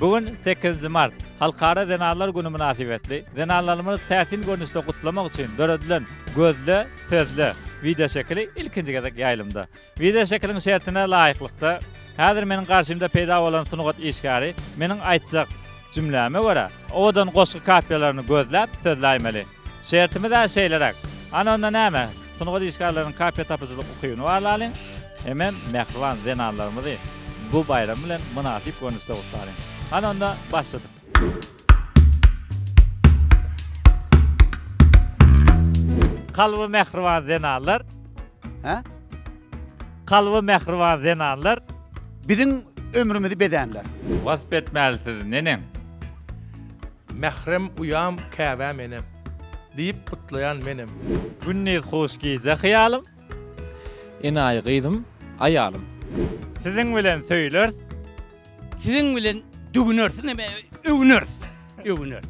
Bu gün, sekizinji mart, Halkara zenanlar güni mynasybetli, zenanlarymyzy täsin görnüşde gutlamak üçin döredilen Gözle, sözle! wideoşekili ilkinji gezek ýaýlymda. Wideoşekiliň şertine laýyklykda, häzir meniň garşymda peýda bolan sungat işgäri meniň aýtjak jümläme görä, owadan goşgy kapiýalaryny gözläp, sözläýmeli. Şertimiz-ä şeýleräk. Ana onda näme? Sungat işgärleriniň kafe tapyjylyk ukybyny barlalyň. Hemem mähriban zenanlarymyzy bu baýram bilen mynasyp görnüşde gutlalyň. Hany onda, başladyk! Kalby mähriban zenanlar! Hä? Kalby mähriban zenanlar! Biziň ömrümizi bezänler! Wasp etmäli sizi, neneň? Mährem uýam käbä menem. Diýip gutlaýan menem. Gündiz hoş gije hyýalym. Enaýy gyzym, aýalym. Siziň bilen söýleris. Siziň bilen düwüneris, näme, öwüneris, öwüneris.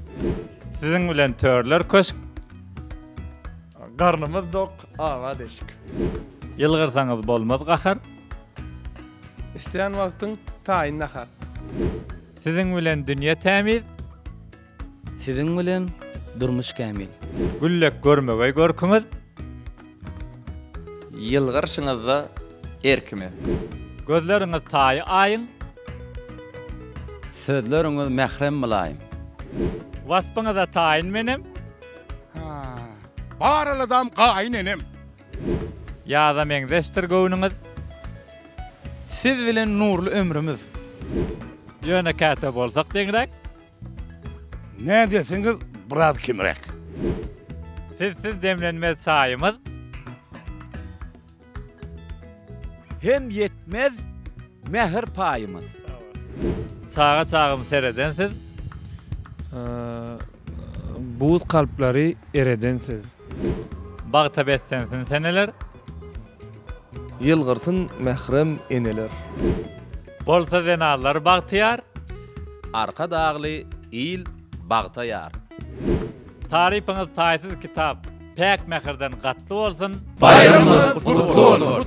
Siziň bilen törler köşk. Garnymyz dok, awa deşik. Ýylgyrsaňyz bolmaz gahar. Isleýän wagtyň taýyn nahar. Siziň bilen dünýe tämiz. Siziň bilen durmuş kämil. Güllek görmegeý görküňiz. Ýylgyrşyňyzda her kimiz. Gözleriňiz taýy aýyň. Sözleriňiz mährem mylaýym. Waspyňyza taýyn menem. Bar aladam gaýyn enem. Ýaza meňzeşdir göwnüňiz. Siz bilen nurly ömrümiz. Ýöne käte bolsak deňräk. Nädeseňiz biraz kemräk. Sizsiz demlenmez çaýymyz. Hem ýetmez mähir paýymyz. Çaga çagym sereden siz. Buz kalplary ereden siz. Bagta beslensin seneler. Ýylgyrsyn mährem eneler. Bolsa zenanlar bagtyýar. Arkadagly il bagta ýar. Tarypyňyz taýsyz kitap. Päk mähirden gatly bolsun. Baýramyňyz gutly bolsun!